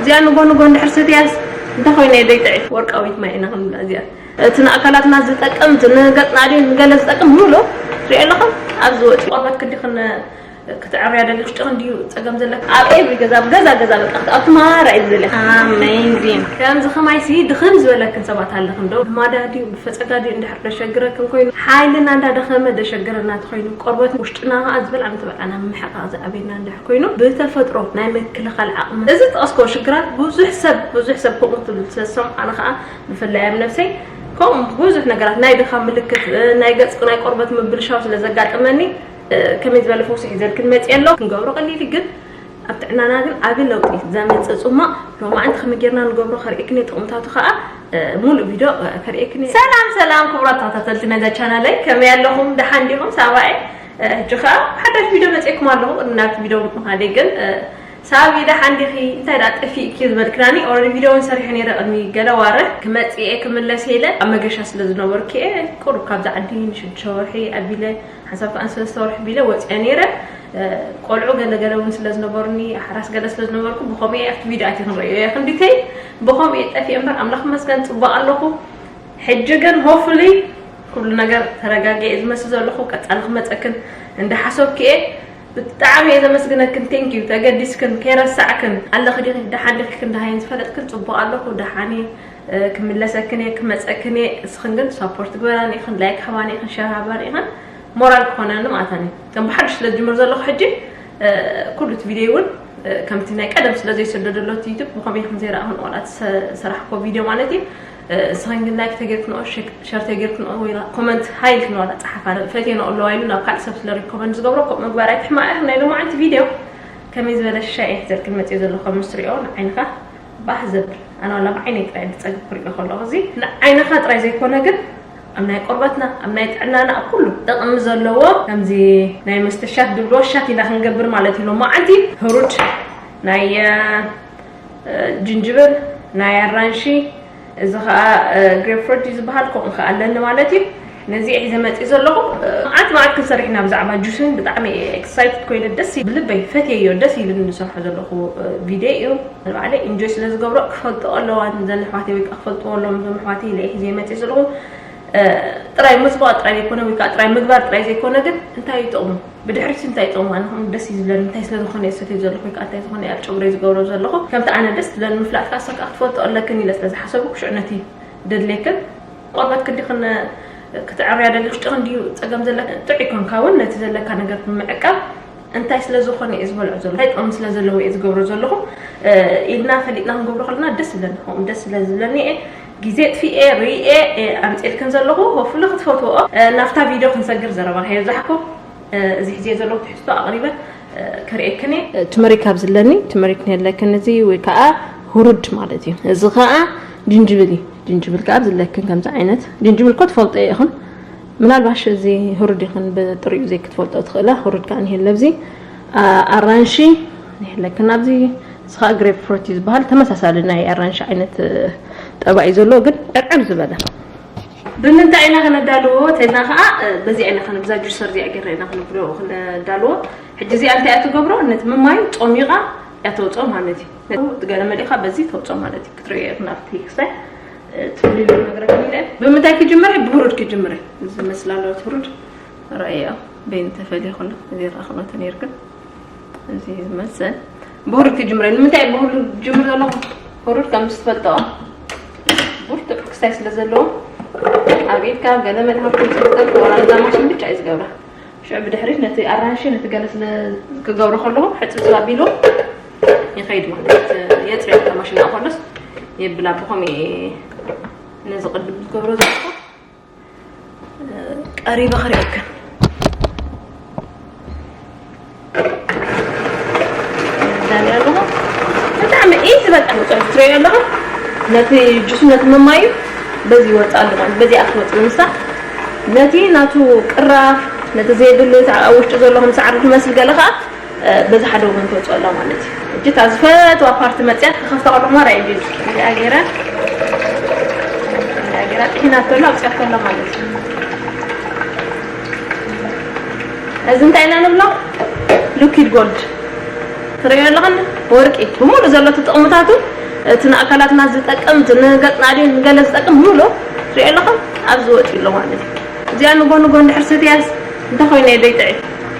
እዚኣ ንጎ ንጎ እንድሕር ሰትያስ እንታይ ኮይነ እየ ደይጥዒ ወርቃዊት ማይ ኢና ክንብላ እዚኣ እቲ ንኣካላትና ዝጠቅም እቲ ንገጽና ድዩ ንገለ ዝጠቅም ምሉ ትሪኦ ኣለኹም ኣብዚ ወጺ ቆርበት ክንዲ ክነ ክትዕርያ ደሊ ውሽጢ ክንዲዩ ጸገም ዘለካ ኣብ ኤቭሪ ገዛ ኣብ ገዛ ገዛ በቃ ኣብቲ ማራ እዩ ዝደልያ ኣሜዚን ከምዚ ከማይሲ ድኽም ዝበለክን ሰባት ኣለክን ዶ ብማዳ ድዩ ብፈጸጋ ድዩ እንድሕር ደሸግረክን ኮይኑ ሓይልና እንዳደኸመ ደሸግረና ተኮይኑ ቆርበት ውሽጥና ከዓ ዝበልዓ ምተበልዓና ምሕቃቅ ዝኣብየና እንድሕር ኮይኑ ብተፈጥሮ ናይ ምክልኻል ዓቕሚ እዚ ዝጠቐስክዎ ሽግራት ብዙሕ ሰብ ብዙሕ ሰብ ከምኡ ትብል ስለ ዝሰምዑ ኣነ ከኣ ብፍላይ ኣብ ነብሰይ ከምኡ ብዙሕ ነገራት ናይ ድኻም ምልክት ናይ ገጽ ናይ ቆርበት ምብልሻው ስለ ዘጋጥመኒ ከመይ ዝበለ ፈውሲ ሒዘልክን መጽየ ኣሎ ክንገብሮ ቀሊል እዩ ግን ኣብ ጥዕናና ግን ዓቢ ለውጢ ዘምጽእ ጽሟቕ ሎማዕንቲ ከመይ ጌርና ንገብሮ ከርእየክን ጥቕምታቱ ከኣ ሙሉእ ቪድዮ ከርእየክን ሰላም ሰላም ክቡራት ተኸታተልቲ ነዛ ቻናለይ ከመይ ኣለኹም ደሓን ዲኹም ሳባኤ ሕጂ ከኣ ሓዳሽ ቪድዮ መጺኤኩም ኣለኩ ቅድሚ ናብቲ ቪድዮ ምኻደይ ግን ሳቢ ደሓን ዲኺ እንታይ ደኣ ጠፊእኪ ዝበልክናኒ ኦረዲ ቪድዮ ውን ሰሪሐ ነይረ ቅድሚ ገለ ዋርሕ ክመጽእ እየ ክምለስ እየ ኢለ ኣብ መገሻ ስለ ዝነበርኩ እየ ቁሩብ ካብዛ ዓዲ ንሽዱሽተ ወርሒ ኣቢለ ሓንሳብ ከኣ ንሰለስተ ወርሒ ቢለ ወጺኣ ነይረ ቆልዑ ገለ ገለ ውን ስለ ዝነበሩኒ ሓራስ ገለ ስለ ዝነበርኩ ብከምኡ እየ ኣብቲ ቪድዮ ኣትየ ክንርእዮ እየ ክንዲተይ ብከምኡ እየ ጠፊኤ እምበር ኣምላኽ መስገን ጽቡቅ ኣለኹ ሕጂ ግን hopefully ኩሉ ነገር ተረጋጊኤ እየ ዝመስል ዘለኩ ቀጻሊ ክመጸክን እንዳ ሓሶብኪ እየ ብጣዕሚ እየ ዘመስግነክን thank you ተገዲስክን ከይረሳዕክን ኣለኪ ዲኪ ዳሓን ዲኪ ክንዳሃይን ዝፈለጥክን ጽቡቅ ኣለኩ ዳሓን እየ ክምለሰክን እየ ክመጸክን እየ እስክን ግን support ግበራኒ ኢክን like ሃባኒ ኢክን share ሃባኒ ኢክን ሞራል ክኮነኒ ማለታኒ እዩ ከም ብሓድሽ ስለ ዝጅምር ዘለኩ ሕጂ ኩሉ እቲ ቪድዮ እውን ከምቲ ናይ ቀደም ስለ ዘይስደደሎት ዩቱብ ብከመይ ከም ዘይረኣኹን ዋላ ሰራሕኮ ቪድዮ ማለት እዩ ንስኽን ግን ላይክ ተጌርክንኦ ሸር ተጌርክንኦ ወይ ኮመንት ሃይ ኢልክንኦ ጸሓፋ ፈቴንኦ ኣለዋ ኢሉ ናብ ካልእ ሰብ ስለ ሪኮመንድ ዝገብሮ ከምኡ ምግባር ኣይትሕማቕ ኢኺ ናይ ሎማዓንቲ ቪድዮ ከመይ ዝበለ ሻይ እየ ሒዘልክን መጽዮ ዘለኹ ምስ ትሪኦ ንዓይንኻ ባህ ዘብል ኣነ ዋላ ብዓይነይ ጥራይ ብጸግብ ክሪኦ ከለኹ እዚ ንዓይንኻ ጥራይ ዘይኮነ ግን ኣብ ናይ ቆርበትና ኣብ ናይ ጥዕናና ኣብ ኩሉ ጥቕሚ ዘለዎ ከምዚ ናይ መስተሻት ድብሎ ሻት ኢና ክንገብር ማለት እዩ ሎማዓንቲ ህሩድ ናይ ጅንጅብል ናይ ኣራንሺ እዚ ከኣ ግሬፕ ፍሩት እዩ ዝበሃል ከምኡ ከኣ ኣለኒ ማለት እዩ ነዚ ሒዘ መጺእ ዘለኹ መዓት መዓት ክንሰርሕ ኢና ብዛዕባ ጁስን ብጣዕሚ ኤክሳይትድ ኮይነ ደስ ብልበይ ፈትየዮ ደስ ኢሉኒ ዝሰርሖ ዘለኹ ቪድዮ እዩ ንባዕለይ ኢንጆይ ስለ ዝገብሮ ክፈልጥኦ ኣለዋ ዘን ኣሕዋተይ ወይ ከዓ ክፈልጥዎ ኣለዎም እዞም ኣሕዋተይ ኢለ ሒዘ መጺእ ዘለኹ ጥራይ ምጽባቕ ጥራይ ዘይኮነ ወይ ከዓ ጥራይ ምግባር ጥራይ ዘይኮነ ግን እንታይ እዩ ጥቕሙ ብድሕሪት እንታይ ጸማ ንኹን ደስ እዩ ዝብለኒ እንታይ ስለ ዝኾነ ዝሰትዮ ዘለኹ ወይ ከዓ እንታይ ዝኾነ ኣብ ጨጉረይ ዝገብሮ ዘለኹ ከምቲ ኣነ ደስ ዝብለኒ ምፍላጥ ከዓ ሰካ ክትፈልጦ ኣለክን ኢለ ስለ ዝሓሰቡ ክሽዑ ነቲ ደድሌክን ቆርበት ክንዲክን ክትዕርያ ደሊኹ ጭቕን ድዩ ፀገም ዘለክን ጥዑይ ኮንካ እውን ነቲ ዘለካ ነገር ንምዕቃብ እንታይ ስለ ዝኾነ እዩ ዝበልዑ ዘሎ እንታይ ጥቕሚ ስለ ዘለዎ እዩ ዝገብሮ ዘለኹ ኢልና ፈሊጥና ክንገብሮ ከለና ደስ ዝብለኒ ከምኡ ደስ ስለ ዝብለኒ እየ ግዜ ኣጥፊኤ ሪኤ እየ ኣምጺኤልክን ዘለኹ ሆፍሊ ክትፈትወኦ። ናብታ ቪድዮ ክንሰግር ዘረባኺ ኣብዛሕኩ እዚ ሒዜዮ ዘለኹ ትሕዝቶ ኣቕሪበ ከርእየክን እየ። ትመሪክ ኣብ ዝለኒ ትመሪክ ንየለክን እዚ ወይ ከኣ ሁሩድ ማለት እዩ። እዚ ከኣ ጅንጅብል እዩ። ጅንጅብል ከኣ ኣብ ዝለክን ከምዚ ዓይነት ጅንጅብል እኮ ትፈልጦ ኢኹን ምናልባሽ እዚ ሁሩድ ይኹን ብጥሪኡ ዘይክትፈልጦ ትኽእላ ሁሩድ ከኣ ንየለ ኣብዚ ኣራንሺ ንየለክን ኣብዚ እዚ ከኣ ግሬፕ ፍሩት እዩ ዝበሃል ተመሳሳሊ ናይ ኣራንሺ ዓይነት ጠባይ እዩ ዘለዎ ግን ዕርዕር ዝበለ። ብምንታይ ኢና ከነዳልዎ ተልና ከኣ በዚኣ ኢና ከነ ብዛ ጁሰር እዚኣ ጌርና ኢና ክንብሎ ክንዳልዎ ሕጂ እዚኣ እንታይ እያ ትገብሮ ነቲ ምማይ ጾሚቓ እያ ተውጽኦ ማለት እዩ ነቲ ገለ መሊእካ በዚ ተውጽኦ ማለት እዩ ክትርእዮ ኢኹም ኣብቲ ክሳይ ትብልሉ ነገረከ ኢለ ብምንታይ ክጅምር እየ ብብሩድ ክጅምር እየ እዚ መስላ ኣለዎ ትብሩድ ራእያ በይኑ ተፈልየ ከሎ እዚ ይረኣ ክነተ ነይሩ ግን እዚ ዝመስል ብሩድ ክጅምረ ንምንታይ ብሩድ ጅምር ዘለኹ ብሩድ ከም ዝትፈልጠኦ ብርቱዕ ክስታይ ስለ ዘለዎ ኣብ ኢድካ ገለ መድሃብቲ ዝርከብ ወራዛ ማሽን ብቻ እዩ ዝገብራ ሽዑ ብድሕሪት ነቲ ኣራንሺ ነቲ ገለ ስለ ክገብሮ ከለኹ ሕፅፅብ ኣቢሉ ይኸይድ ማለት የፅርያ ማሽን ኣኮለስ የብላ ብኸምኡ ነዚ ቅድም ዝገብሮ ዘለኹ ቀሪበ ክርእየካ ዛኒ ኣለኹ ብጣዕሚ ኢዚ በቃ ንፅሑፍ ትሪኦ ኣለኹ ነቲ ጁሱ ነቲ መማዩ በዚ ይወፅእ ኣሎ ማለት በዚኣ ክትወፅእ ምሳ ነቲ ናቱ ቅራፍ ነቲ ዘየድሊ ኣብ ውሽጢ ዘሎ ከም ሳዕሪ ዝመስል ገለ ከዓ በዚ ሓደ ወገን ትወጽኦ ኣላ ማለት እዩ። ሕጂ እታ ዝፈትዋ ፓርቲ መጽያ ክኸፍታ ከለኹ ማራ እዩ ቢሉ ከምዚኣ ገይራ ከምዚኣ ገይራ ጥሒናቶ ኣላ ኣውጽኣቶ ኣላ ማለት እዩ። እዚ እንታይ ኢና ንብሎ ሉኪድ ጎልድ ትርእዮ ኣለኻ ወርቂ ብምሉእ ዘሎ እቲ ጥቕምታቱ እቲ ንኣካላትና ዝጠቅም እቲ ንገጽና ድዩ ንገለ ዝጠቅም ምሉእ ትርእዮ ኣለኻ ኣብዚ ወጺኡ ኣሎ ማለት እዩ። እዚኣ ንጎ ንጎ እንድሕር ሰትያስ እንታይ ኮይኑ እየ ደይጥዒ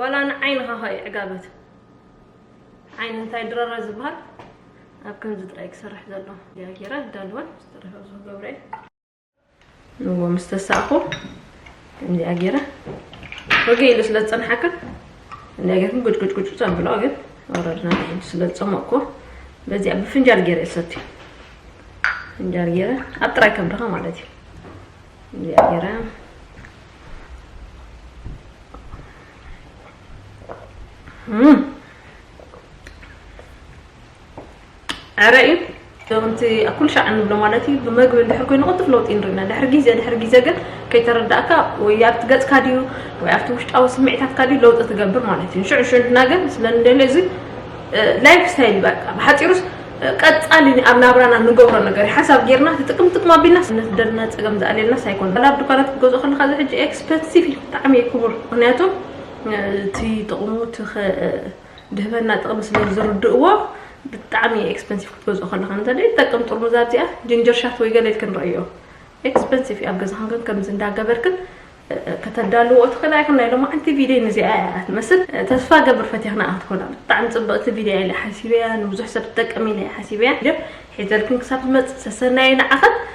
ዋላ ንዓይንኻ ኸ እዩ ዕጋበት ዓይኒ እንታይ ድረረ ዝበሃል ኣብ ከምዚ ጥራይ ክሰርሕ ዘሎ እያ ጌራ ዳልወን ዝተረፈ ብዙ ገብረ ንዎ ምስ ተሳእኹ ከምዚኣ ጌረ ወገ ኢሉ ስለ ዝፀንሓካ እንዳ ጌርኩም ጉጭጉጭጉጭ ዘብሎ ግን ወረድና ንሒድ ስለ ዝፀመቕኩ በዚኣ ብፍንጃል ጌረ ይሰትዩ ፍንጃል ጌረ ኣብ ጥራይ ከብድኻ ማለት እዩ እዚኣ ጌራ ዕረ እዩ ከምቲ ኣብ ኩሉ ሻዕ እንብሎ ማለት እዩ ብመግቢ እንድሕር ኮይኑ ቅልጡፍ ለውጢ ንርኢና ድሕሪ ግዜ ድሕሪ ግዜ ግን ከይተረዳእካ ወይ ኣብቲ ገፅካ ድዩ ወይ ኣብቲ ውሽጣዊ ስምዒታትካ ድዩ ለውጢ ትገብር ማለት እዩ ሽዑ ሽዑ ድና ግን ስለንደልዮ እዚ ላይፍ ስታይል በቃ ብሓፂሩስ ቀጻሊ ኣብ ናብራና ንገብሮ ነገር ሓሳብ ጌርና እቲ ጥቅም ጥቅም ኣቢልናስ ንደና ጸገም ዝኣልየልናስ ኣይኮነ ዋላ ኣብ ዱካናት ክትገዝኦ ከለካ እዚ ሕጂ ኤክስፐንሲቭ እዩ ብጣዕሚ እዩ ክቡር ምክንያቱ እቲ ጥቕሙ እቲ ድህበና ጥቕሚ ስለ ዝርድእዎ ብጣዕሚ ኤክስፐንሲቭ ክትገዝኦ ከለካ እንተ ይጠቅም ጥርሙዝ ኣብዚኣ ጅንጀር ሻት ወይ ገለ ኢልክን ረእዮ ኤክስፐንሲቭ እዩ ኣብ ገዛክን ከምዚ እንዳገበርክን ከተዳልውኦ ትኽእላ ኢኽን ናይ ሎማዓንቲ ቪድዮይ ንዚኣ ኢያ ትመስል ተስፋ ገብር ፈትየ ክነኣ ክትኮና ብጣዕሚ ጽብቕቲ ቪድዮ ኢያ ኢለ ሓሲበያ ንብዙሕ ሰብ ትጠቅም ኢለ ኢየ ሓሲበያ ሒዘልክን ክሳብ ዝመጽእ ሰሰናዩ ንዓኽን